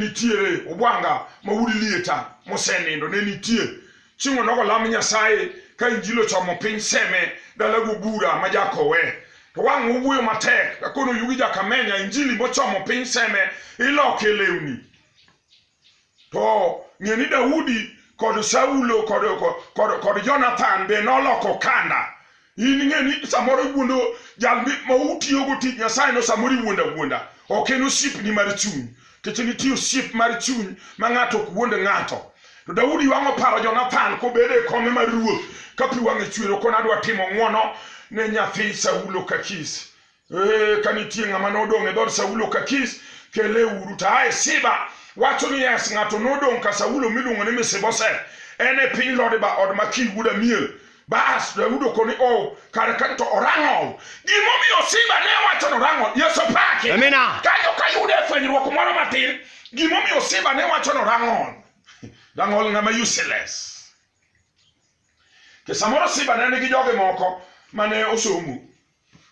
nitiere obwanga ma udi lieta mosenindo ne nitie chieng' onogo lam nyasaye ka injili ochomo piny seme dalago bura ma jakowe to wang' owuoyo matek kakono yugi jakamenya injili mochomo piny seme iloke lewni to ng'e ni daudi kod saulo kod, kod, kod jonathan be noloko kanda in ing'e ni samoro iwuondo jal ma utiyogo tich nyasayeno samoro iwuondo awuonda ok en osiepni mar chuny nikech nitie osiep mar chuny ma ng'ato ok wuond ng'ato to daudi wang'o paro jonathan kobedo e kome mar ruoth ka pi wang'e chwero kona adwa timo ng'wono ne nyathi saulo kakis Ee, ka nitie ng'ama nodong' e dhood Saulo ka Kis, kele uru. To ae Siba wacho ni yes, ng'ato nodong' ka Saulo miluongo ni Misiboset, en e piny Lodiba od Makir wuod Amiel. Bas, Daudi okoni ni oh, kare ka to orang'ol. Gimomiyo Siba ne wacho ni orang'ol, Yesu paki. Amina. Kanyo ka yude fwenyruok moro matin, gimomiyo Siba ne wacho ni orang'ol. Rang'ol ng'ama useless. Ke samoro Siba ne nigi joge moko mane osomo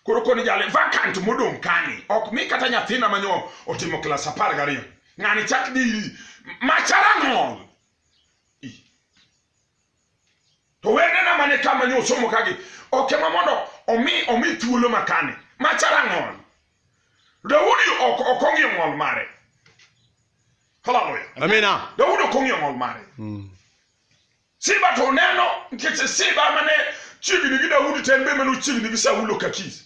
koro koni jale vacant modong' kani ok mi kata nyathina manyo otimo klas apar gariyo ng'ani chak diri machara ng'ol to wendena mane kama nyo osomo kagi ok ema mondo omi omi thuolo makani machara ng'ol daudi ok ok ong'iyo ng'ol mare haleluya Amina. daudi ok ong'iyo ng'ol mare Mm. Siba to oneno nikech Siba mane chiegni gi Daudi to en be mane ochiegni gi Saulo Kakis.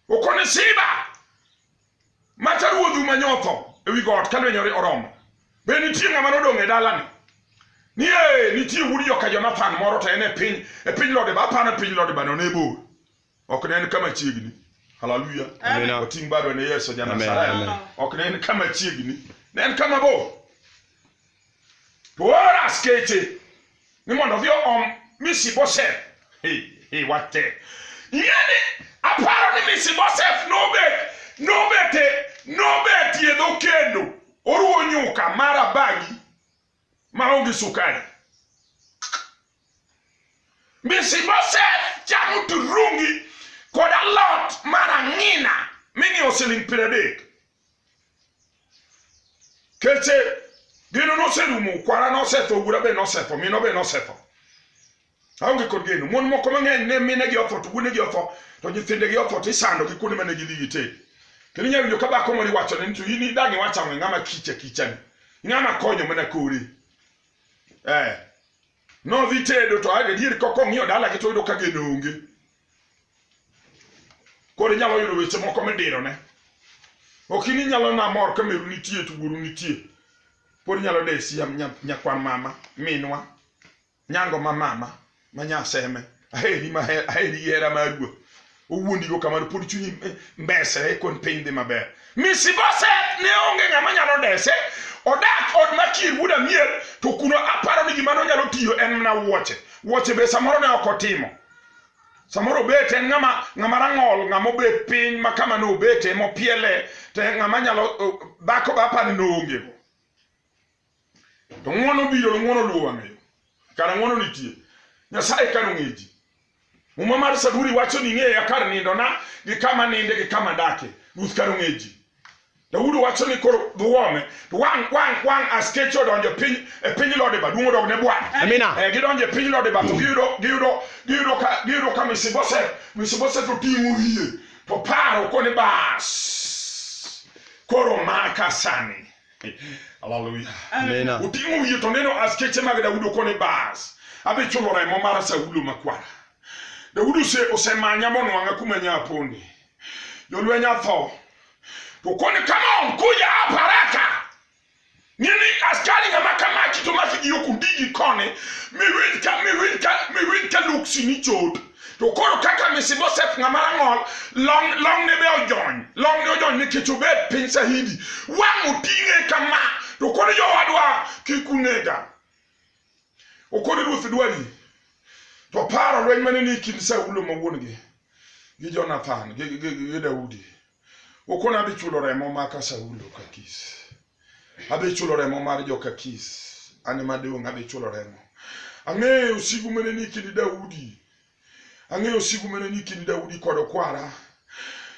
Okone Siba mata ruodhu manyotho ewi got ka lwenyore oromo. Be nitie ng'ama nodong' e dalani? Nie nitie wuod joka Jonathan moro to en e piny e piny Lodeba, aparo e piny Lodeba no ne bor. ok ne en ka machiegni haleluya Amina. oting' bado ne yesu Amen, amen. janasaraya ok ne en ka machiegni ne en ka mabor to ooro askeche ni mondo odhi oom misiboset iwate ing'eni aparo ni misiboset nobet nobete nobetie dho kendo oruwo nyuka mara bagi maonge sukari. Misiboset chamo turungi kod alot mar ang'ina ming'iewo siling' piero adek. Keche gino noserumo, kwara nosetho, ogura be nosetho, mino be nosetho. aonge kod geno mon moko mang'eny ne minegi otho to wuonegi otho to nyithindegi otho to isando gi kuonde mane gidhi gitee kendo inyalo winjo ka dhako moro iwachone ni to in idang' iwacho ang'o ng'ama kicha kichani ng'ama konyo mana kore eh nodhi tedo to adier kok ong'iyo dalagi to oyudo ka geno onge koro inyalo yudo weche moko midirone ok in inyalo namor ka meru nitie to wuoru nitie pod inyalo desi nyakwan mama minwa Nyango ma mama ma nyaseme aheri ma aheri hera ma ruo owuondi go kamano pod chunyi mbesre kon piny dhi maber Misiboset ne onge ng'ama nyalo dese odak od makir wuod amiel to kuno aparo ni gima nonyalo tiyo en mana wuoche wuoche be samoro ne ok otimo samoro obet en ng'ama ng'ama rang'ol ng'ama obet piny ma kama ne obete mopiele to ng'ama nyalo dhako be apani noongego To ng'uono biro, ng'uono luwo wang'eyo. Kara ng'uono nitie. Nyasaye kano ng'e ji. Muma mar Saburi wacho ni ng'eya kar nindona gi kama ninde gi kama dake. Ruth kano ng'e ji. Daudi wacho ni koro dhuome to wang' wang' wang' askeche odonjo e piny e piny Lodiba duong' odog ne Bwana. Amina. Eh, gidonjo e piny Lodiba to giyudo giyudo giyudo ka giyudo ka Misiboset Misiboset oting'o wiye to paro koni bas. Koro maka sani. Hallelujah. Amina. Oting'o wiye to neno askeche mag Daudi koni bas. Adhi chulo remo mar Saulo makwara. Daudi ose osemanya monwang'a kuma nyaponi. Jolweny atho. To koni come on kuja hapa haraka. Nini askari ng'ama kama kitomaki gi okundigi koni miwinj ka miwinj ka miwinj ka luksini chot. to koro kaka Mishiboseth ng'ama rang'ol long long ne be ojony long ne ojony nikech obed piny sahidi wang' oting'e kama to koro jowadwa kik unega okoni ruoth dwari to paro lweny mane ni kind Saulo ma wuon-gi gi Jonathan gi, gi, gi, gi Daudi Okona adhi chulo remo maka Saulo Kakis. Adhi chulo remo mar jo Kakis. An ema dong' adhi chulo remo. Ang'eyo sigu mene ni kindi Daudi. Ang'eyo sigu mene ni kindi Daudi kod okwara.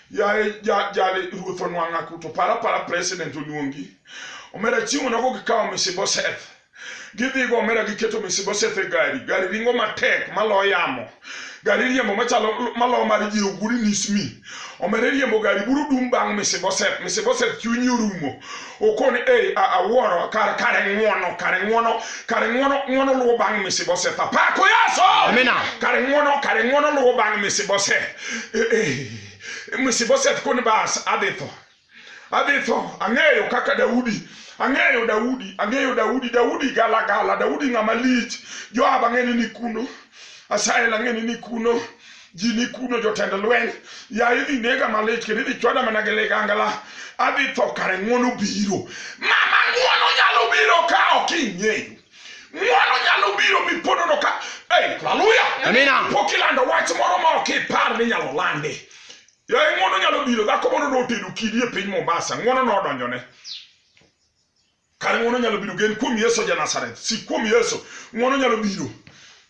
Yaye jale ruoth onwang'a kuto. Para para president oluongi. Omera chieng'o nogo gikawo Mishiboseth. gidhi go omera giketo Mesibosheth e gari gari ringo matek malo yamo gari riembo machalo malo mar ji oguri nismi omera riembo gari buru dum bang' Mesibosheth Mesibosheth chunyi orumo okoni ei awuoro kar kare ng'wono kare ng'wono kare ng'wono ng'wono luwo bang' Mesibosheth apako yaso Amina. kare ng'wono kare ng'wono luwo bang' Mesibosheth Eh, eh. Mesibosheth koni bas adhi tho adhi tho. Ang'eyo kaka Daudi, ang'eyo Daudi, ang'eyo Daudi, Daudi galagala, Daudi ng'ama lich. Joab ang'eni ni kuno, Asahel ang'eni ni kuno, ji ni kuno, jotend lweny. Ya idhi nega malich kendo idhi chwada mana gi ligangla. Adhi tho kare ng'wono biro. Mama ng'wono nyalo biro ka ok ing'eyo. Ng'wono nyalo biro miponono ka. Hey, haleluya. Amina. Pok ilando wach moro ma ok ipar ni nyalo lande. Yaye ng'wono nyalo biro, dhako moro notedo kidi e piny Mombasa, ng'wono nodonjone. Kare ng'wono nyalo biro, gen kuom Yesu ja Nazareth, sik kuom Yesu, ng'wono nyalo biro.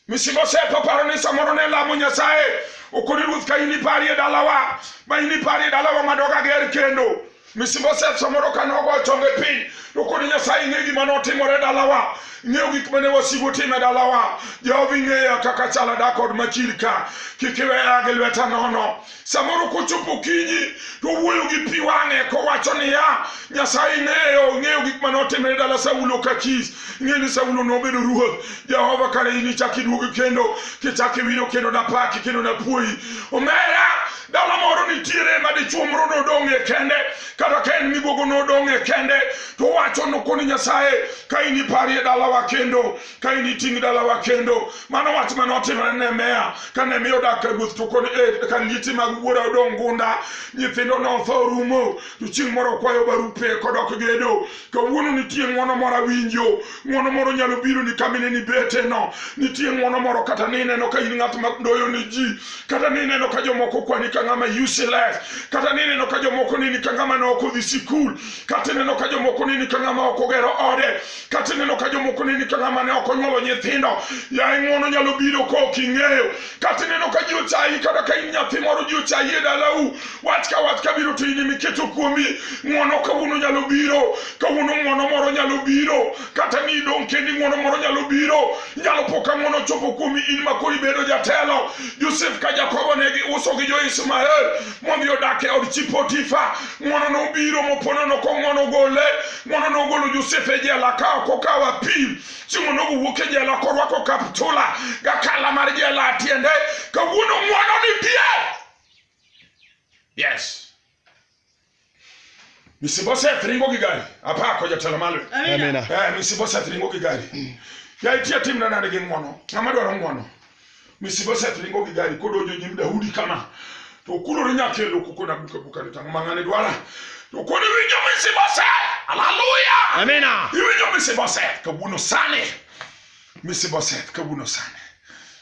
Misimo sepo paro ni samoro ne lamo Nyasaye, okoni ruoth ka inipari e dalawa, ma inipari e dalawa madoga ger kendo. Misiboset samoro ka nogo chonge piny to kod Nyasaye ing'e gima notimore dalawa ing'eyo gik mane wasigu timo e dalawa Jehova ing'eya kaka chala da kod machir ka kik iweya gi lweta nono samoro kochopo kinyi to wuoyo gi pi wang'e kowacho niya Nyasaye ing'eyo ing'eyo gik mane otimore dala Saulo ka Kis ing'eyo ni Saulo nobedo ruoth Jehova kare in ichak iduogi kendo kichak iwiro kendo napaki kendo napuoyi omera dala moro nitiere ma dichuo moro nodong' e kende kata ka en migogo nodong' e kende to wacho nokoni nyasaye ka in iparie dalawa kendo ka in iting' dalawa kendo mano wach mane otimore ne meya ka ne miyo dak ka ruoth to koni e ka lieti mag wuora odong' gunda nyithindo notho rumo to chieng' moro kwayo barupe kodok gedo kawuono nitie ng'uono moro awinjo ng'uono moro nyalo biro ni kamine ni beteno nitie ng'uono moro kata ni ineno ka in ng'at madoyo ni ji kata ni ineno ka jomoko kwani ka ng'ama useless kata ni ineno ka jomoko nini ka ng'ama ne ok odhi sikul kata ineno ka jomoko nini ka ng'ama ok ogero ode kata ineno ka jomoko nini ka ng'ama ne ok onyuolo nyithindo yaye ng'uono nyalo biro ka ok ing'eyo kata ineno ka ji ochayi kata ka in nyathi moro ji ochayi e dalau wach ka wach kabiro to in miketo kuomi ng'wono kawuono nyalo biro kawuono ng'wono moro nyalo biro kata ni idong' kendi ng'wono moro nyalo biro nyalo po ka ng'wono chopo kuomi in ma koro ibedo jatelo josef ka jakobo ne giuso gi jo-ismael modhi odak e od chi potifa ng'wono nobiro mopono noko ng'wono gole ng'wono nogolo josef e jela ka ok okawo apim chieng'o nogo wuok e jela korwako kaptula gakala mar jela tiende kawuono ng'wono ni pie Yes. Misiboset ringo gi gari. Apako jatelo malo. Amina. Eh, Misiboset ringo gi gari. Ya itia tim na nade gi ng'wono. Ng'ama dwaro ng'wono. Misiboset ringo gi gari kodonjo nyim Daudi kama. To okulore nyaka e loku kona buka buka ni tang' ma ng'ane dwara. To kod iwinjo Misiboset. Haleluya. Amina. Iwinjo Misiboset kawuono sani. Misiboset kawuono sani.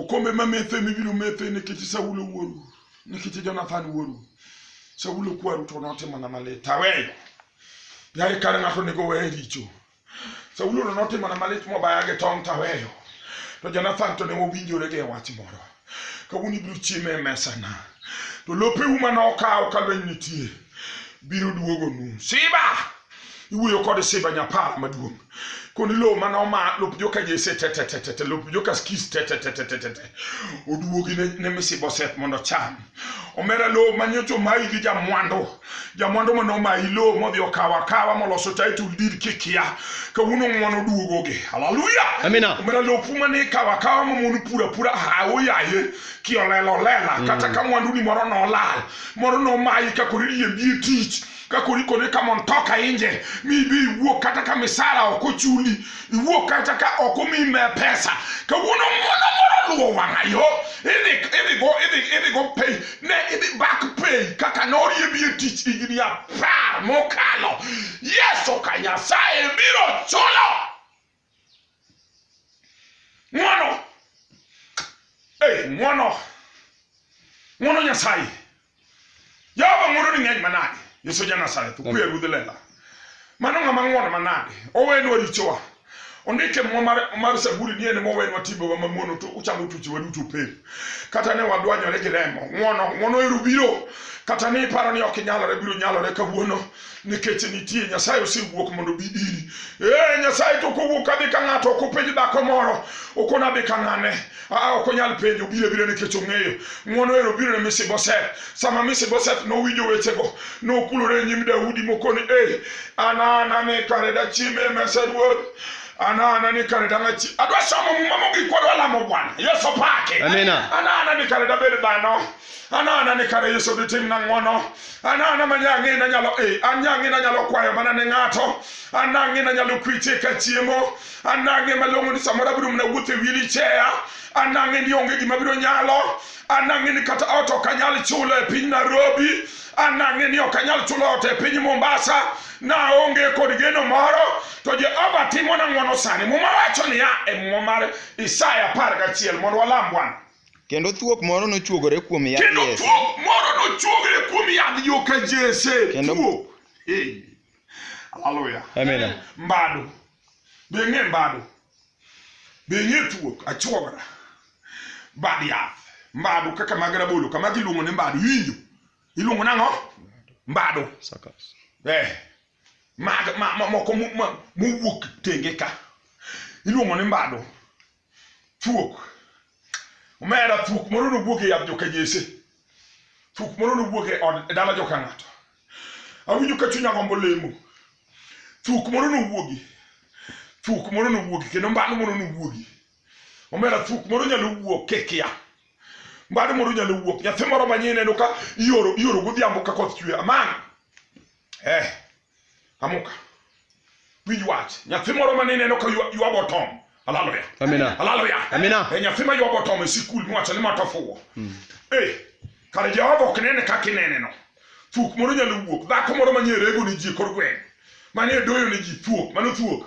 Okombe ma metho ema ibiro metho nikech Saulo wuoru, nikech Jonathan wuoru. Saulo kwaru to notimona malit, aweyo. Yaye kare ng'ato onego weye richo. Saulo to notimona malit mobaya gi tong' taweyo. To Jonathan to ne wawinjore gi e wach moro. Kawuono ibiro chieme e mesana. To lopeu mane okawo ka lweny nitie biro duogonu. Siba! iwuoyo kod simba nyapara maduong' koni lowo mane oma lop joka jese tetetetete lop joka skis tetetetetete oduogi ne, ne misibo set mondo cham omera lowo manyocho mayi gi jamwandu jamwandu mane omayi lowo modhi okawo akawa moloso title deed kikia kawuono ng'wono oduogogi haleluya Amina. omera lopu mane ikawo akawa mamon pura pura hawo yaye kiolelo lela kata ka mwandu ni moro nolal moro nomayi kakori riembi e tich ka koro ikone ka mondo toka inje mi ibi iwuok kata ka misara ok ochuli iwuok kata ka ok omi me pesa kawuono ng'wono moro oluwo wang'a yo idhi idhi go idhi idhi go pay ne idhi back pay kaka noriebi e tich higni apar mokalo yeso ka nyasaye biro chulo ng'wono hey, ng'wono ng'wono nyasaye jehova ng'wono ni ng'eny manade yesu ja nazareth okuye ruodh lela mano ng'ama ng'wono manade owenwa richowa ondike mo mar, mar saburi ni en mowenwa timbewa mamono to uchamo tuchewa duto pep kata ne wadwanyore gi remo ng'wono ng'wono ero biro kata ni iparo ni ok inyalore biro nyalore kawuono nikech nitie nyasaye osewuok mondo bi iri ee nyasaye to kowuok kadhi ka ng'ato ok openj dhako moro ok onadhi ka ng'ane aa ok onyal penjo obiro abira nikech ong'eyo ng'wono ero biro ne misiboset sama misiboset nowinjo wechego nokulore e nyim daudi mokoni e an an ane kare dachiem e mesa ruoth anana ni kare dang'achi adwa somo muma mogik wadwa lamo bwana yesu pake Amina. anana ni kare dabed dhano anana ni kare yesu ditim na ng'wono anana ma nyang'e na nyalo e anyang'e na nyalo kwayo mana ne ng'ato anang'e na nyalo kwiche ka chiemo anang'e malong'o ni samoro abiro mna wuotho e wili cheya anang'e ni onge gima biro nyalo anang'e ni kata ot ok anyal chulo e piny nairobi anang'e ni ok anyal chulo ot e piny mombasa naonge kod geno moro to jehova timona ng'wono sani muma wacho niya e muma mar isaya apar gachiel mondo walam bwana Kendo thuok moro nochuogore kuom yadh Kendo Jesse. thuok moro nochuogre kuom yadh joka Jesse. Kendo- Thuok. Ee. Haleluya. Amina. Mbado. Be ng'e mbado. Be ng'e thuok achuogra. Bad yath. Mbado kaka mag rabolo kama giluongo ni mbado. Iwinjo? Iluongo nang'o? Mbado. Sakas. Eh, mag ma, ma, moko mu- ma- mowuok tenge ka iluongo ni mbado thuok omera thuok moro nowuog e yadh joka jese thuok moro nowuog e od e dala joka ng'ato awinjo ka chunya gombo lemo thuok moro nowuogi thuok moro nowuogi kendo mbano moro nowuogi omera thuok moro nyalo wuok kikia mbano moro nyalo wuok nyathi moro manyien neno ka ioro ioro godhiambo ka koth chwe amang eh Amuka. Winj wach. Nyathi moro mane ineno ka ywa- ywago tom. Haleluya. Amina. Haleluya. Amina. E nyathi ma ywago tom e sikul miwacho ni mata fuwo. Eh, kare Jehova ok nene kaka ineneno. Thuok moro nyalo wuok. Dhako moro manie rego ni ji e kor gweng'. Manie doyo ni ji thuok. Mano thuok.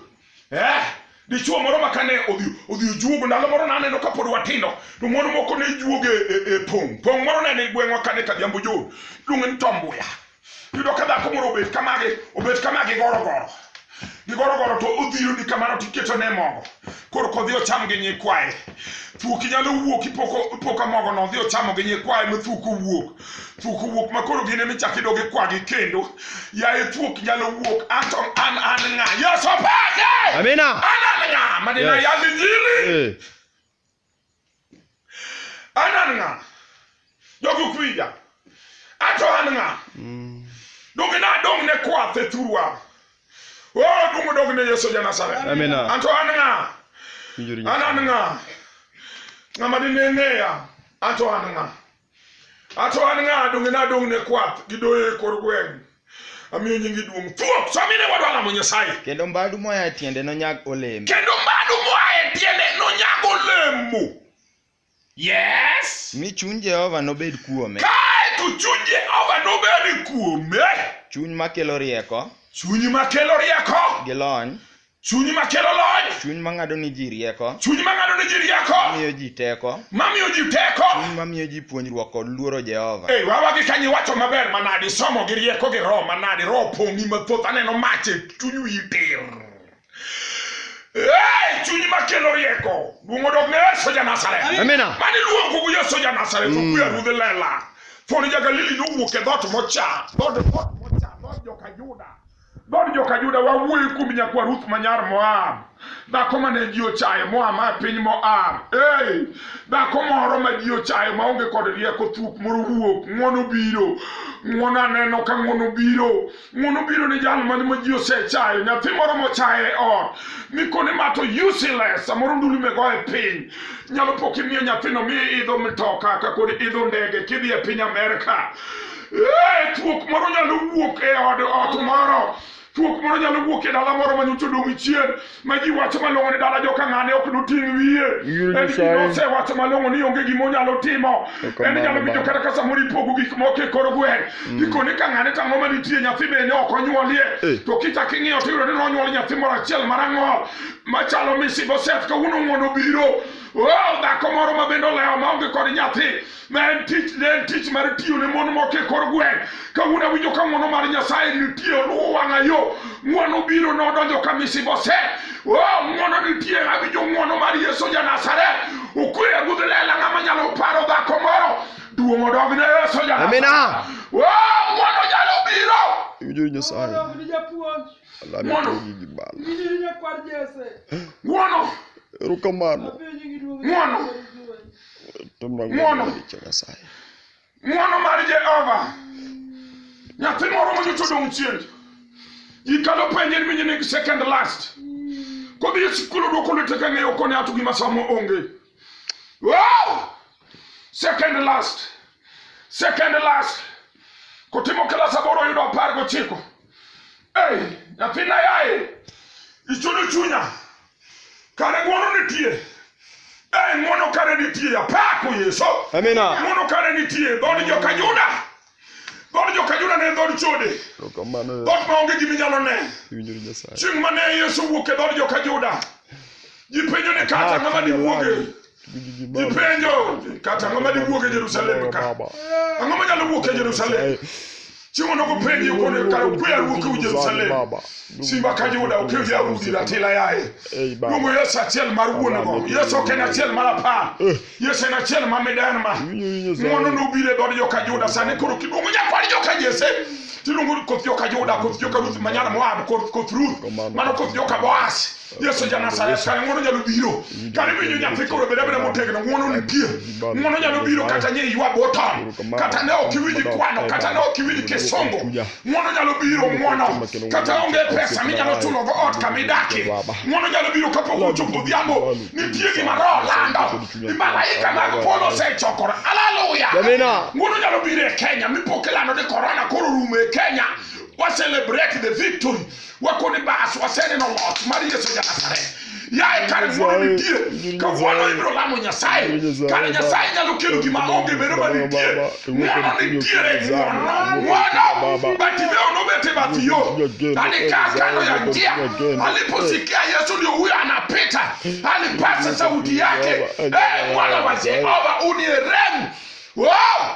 eh dichuo moro ma kane odhi odhi ojuogo ndalo moro naneno ka pod watindo to mon moko ne juogo e, e, e pong' pong' moro nene gweng'wa kane kadhiambo jo luonge ni tombuya yudo ka dhako moro obet kamagi obet kamagi gorogoro gigorogoro to odhiro ni kamano tiketo ne mogo koro kodhi ocham gi nyikwaye thuoki nyalo wuok ipoko ipoka mogo no odhi ochamo gi nyikwaye ma thuok owuok thuok owuok ma koro gin ema ichak idogi kwagi kendo yaye thuok nyalo wuok anto an an ng'a yes opake Amina. an an ng'a madina Yes. yal injili Eh. an an ng'a jogi ok winja anto an ng'a Mm. donge na dong ne kwath e thurwa o dungo dog ne yesu ja nazareth Amina. anto an ng'a Winjuru an an Nyasaye. ng'a ng'ama dine ng'eya anto an ng'a Ato an ng'a donge nadong' ne kwath gi doyo e kor gweng'. Amiyo nyingi duong'. Thuok, so amine wadwa lamo Nyasaye. Kendo mbadu moa e tiende nonyag olembe. Kendo mbadu moa e tiende nonyag olemo. Yes. Mi chuny Jehova nobed kuome. Kae to chuny Jehova nobed kuome. Chuny makelo rieko. Chuny makelo rieko. Gi lony. Chuny ma kelo lony. Chuny ma ng'ado ni ji rieko. Chuny ma ng'ado ni ji rieko. Mamiyo ji teko. Mamiyo ji teko. Chuny ma miyo ji puonjruok kod luoro Jehova. Ei, wawa gi kanyo iwacho maber manadi, somo gi rieko gi roho manadi, roho pong'i mathoth, aneno mach e chuny wiyi tir. Ei, chuny ma kelo rieko. Duong' odog ne Yesu ja Nazareth. Amina. Mani luongo gu Yesu ja Nazareth, okuya ruodh lela. Thoni ja Galili nowuok e dhoot mocha, dhood dhoot mocha, dhood joka Juda. Dhood joka Juda wawuoyo kuom nyakwa Ruth ma nyar Moab. Dhako ma ne ji ochayo moa ma piny Moab. Ei, dhako moro ma ji ochayo ma onge kod rieko thuok moro wuok. Ng'wono biro. Ng'wono aneno ka ng'wono biro. Ng'wono biro ni jal man ma ji osechayo. Nyathi moro mochaye e ot. Mikone ma to useless. Samoro ndulu mego e piny. Nyalo po kimiyo nyathino mi idho mtoka ka kod idho ndege kidhi e piny Amerka. Eh, thuok moro nyalo wuok e od ot moro thuok moro nyalo wuok e dala moro ma nyocha odong' chien ma ji wacho malong'o ni dala joka ng'ane ok noting' wiye Yul en Nyasaye. gima osewacho malong'o ni onge gima onyalo timo Eka en nyalo mano winjo baba. kata ka samoro ipogo gik moko e kor gweng' gikone ka ng'ane tang'o ma nitie nyathi bende ok onyuolie Eh. to kichak ing'iyo to iyudo ni nonyuol nyathi moro achiel marang'ol machalo misiboset kawuono ng'wono biro Oh, dhako moro ma bende olewo ma onge kod nyathi ma en tich ne en tich mar tiyo ne mon moko e kor gweng' kawuono awinjo ka ng'wono mar nyasaye nitie oluwo wang'a yo ng'wono biro nodonjo ka misibose o ng'wono nitie awinjo ng'wono mar yesu ja nasaret okweya ruodh lela ng'ama nyalo paro dhako moro duong' odog ne yesu ja Amina. o ng'wono nyalo biro Iwinjo ni Nyasaye. Mondo ni japuonj, Alame Mondo. to gigi bala. winjo ni nyakwar Jesse. ng'wono Erokamano. Apenjo gi duong' Ng'wono. Ng'wono. Ng'wono mar Jehova. Nyathi moro ma nyocha odong' chien. Ji kalo penje ni minyi nigi second last. Kodhi e sikul odwoko lwete ka ng'eyo koni ato gima samo onge. Wow! Second last. Second last. Kotimo klas aboro oyudo apar gochiko. Ei, nyathina yaye, ichudo chunya. Kare ng'wono nitie. Eh, ng'wono kare nitie. Apako Yesu. Amina. Ng'wono kare nitie. Dhood joka Juda. Dhood joka Juda ne en dhood chode. Erokamano Dhood ma onge gima inyalo ne. iwinjori Nyasaye. Chieng' mane Yesu wuok e dhood joka Juda. Ji penjo ni kata ng'ama diwuoge. Gipenjo kata ang'o ma diwuok e Jerusalem ka? Ang'o ma nyalo wuok e Jerusalem? Chieng'ono gopenji kono kara ukwe awuok u Jerusalem. Simba ka Juda ukwe ya udi la tila yaye. Luongo Yesu achiel mar wuonego. Yesu ok en achiel mar apar. Eh. Yesu en achiel ma midan ma. Ng'wono nobiro e dhood joka Juda sani koro kiduogo nyakwar joka Jesse. Tiluongo koth joka Juda, koth joka Ruth manyar Moab, koth Ruth, mano koth joka Boaz. Yesu Janasareth kare ng'wono nyalo biro kare winjo nyathi koro bed abeda motegno ng'wono nitie ng'wono nyalo biro kata nye ywa botam kata ne ok iwinj kwano kata ne ok iwinj kisongo ng'wono nyalo biro ng'wono kata onge pesa minyalo chulo go ot kama idakie ng'wono nyalo biro kapok ochopo odhiambo nitie gima roho lando ni malaika mag polo osechokore aleluya ng'wono nyalo biro e kenya mipoke lando ni korona koro rumo e kenya wa celebrate the victory wako ni bas waseneno loch mar yesu janazareth yaye kare wuono nitie kawuono ibiro lamo nyasaye kare nyasaye nyalo kelo gima onge bedo ma nitie neno nitiere ng'wono batimeo nobete bath yo alikaa kando ya njia aliposikia yesu ndio huyo anapita alipasa sauti yake e mwana wa jehova uniremu wow!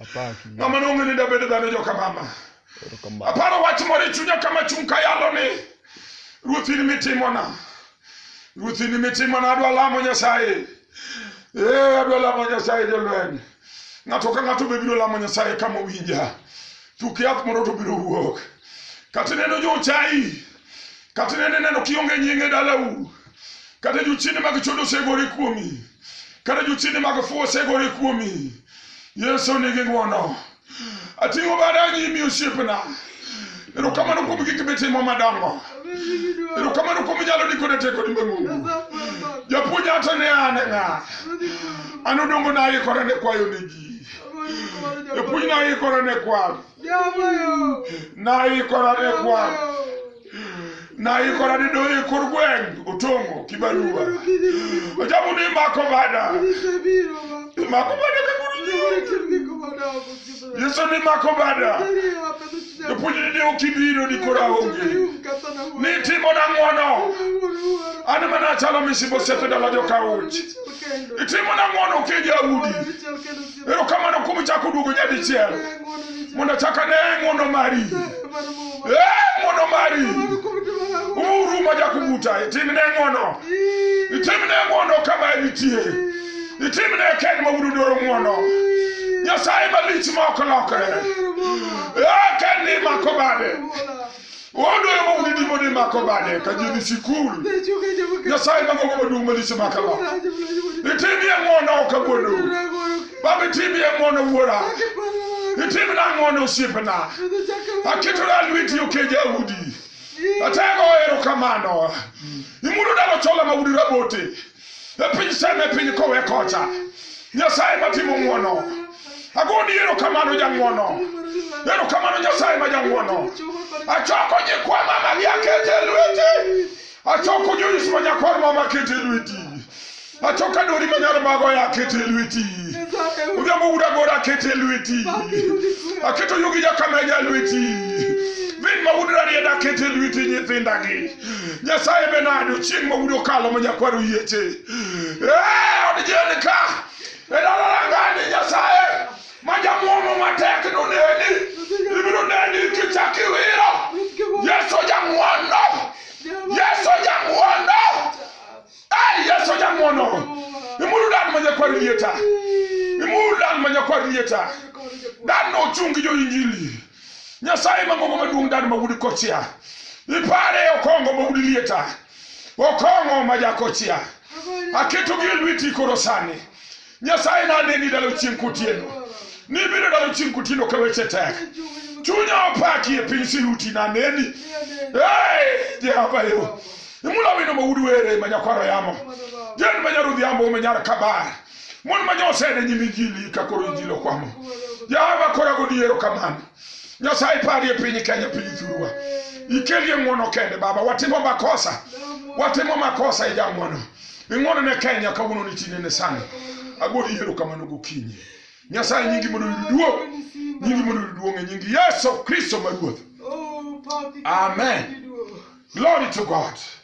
Apaki. Ng'ama nong'e ni dabedo dhano joka mama. Erokamano. Aparo wach moro e chunya kama chung' ka yalo ni ruoth in mitimona. Ruoth in mitimona adwa lamo Nyasaye. Eh adwa lamo Nyasaye jolweny. Ng'ato ka ng'ato be biro lamo Nyasaye kama owinja. Tuk yath moro to biro wuok. Kata ineno jo chai. Kata ineno ineno kionge nyinge dalau. Kata jochiende mag chodo osegore kuomi. kata jochiende mag fuwo osegore kuomi yesu nigi ng'wono ating'o bada nyimi osiepna erokamano kuom gik mitimo madongo erokamano kuom nyalo ni koda tekoni mang'ongo japuonj ata ne an e ng'a an odongo naikora ne kwayo ne ji japuonj naikora ne kwan naikora ne kwan naikora ni doyi kor gweng' otongo kibarua ojabu ni mako bada mako bada kakuru yesu ni mako bada jopuonjni ni ok ibiro ni koro aonge ni timo nang'wono an mana achalo misibo sepe dala joka uch itimo nang'wono kija udi erokamano kuom chako duogo nyadichiel mondo chaka ne ng'wono mari Eh, ng'wono mari uru ma jakubuta itimne ng'wono itimne ng'wono kama enitie itimne kend ma wudu dwaro ng'wono nyasaye malich ma ok lokre Eh, kend ni mako bade Owadwa ema udi dimo ni mako bade ka ji dhi sikul. Nyasaye ma gogo maduong' malise maka ba. Itimie ng'wono ok awuondo. Baba itimie ng'wono wuora. Itimna ng'wono osiepna. Aketora lweti okeja udi. Atego erokamano. Imulo dalo chola ma udi rabote. e piny sem e piny kowe kocha nyasaye matimo ng'wono agoni erokamano jang'wono erokamano nyasaye ma jang'wono achoko nyikwa mama gi akete e lweti achoko joyis ma nyakwar mama akete e lweti achoko adori ma nyar mago ya akete e lweti odhiambo wuda gora akete e lweti aketo yugi jakameja e lweti vin ma wudrarieda akete e lweti nyithindagi nyasaye be nade ochieng' ma wudo kalo ma nyakwaro yieche Eh, od jeni ka e dala langani nyasaye ma jamwomo matek noneni ibiro neni kichak iwiro yesu jang'wono yesu jang'wono Ai, yesu jang'wono imuru dan ma nyakwaro lieta imuru dan ma nyakwaro lieta dan no ochung' gi jo-injili nyasaye mangongo maduong' dano mawudi kochia ipare okongo mawudi lieta okongo majakochia aketogi e lweti koro sani nyasaye naneni dalo chieng' kotieno nibiro dalo chieng' kotieno ka weche tek chunya opaki e piny siruti naneni Hey, jehova yo imula wino mawudi were manyakwaro yamo jen manyarudhiambo manyar kabar mon ma nyosedhi nyime jili ka koro ijilo kwamo yawa kora godiero kamano nyasaye parie piny kenya piny thurwa ikelie ng'wono kende baba watimo makosa watimo makosa ija ng'wono ing'wono ne kenya kawuono ni tinde ne sani agodi yiero kamano gokinyi nyasaye nyingi mondo yud duong nyingi mondo yud duong e nyingi yesu kristo ma ruoth amen glory to god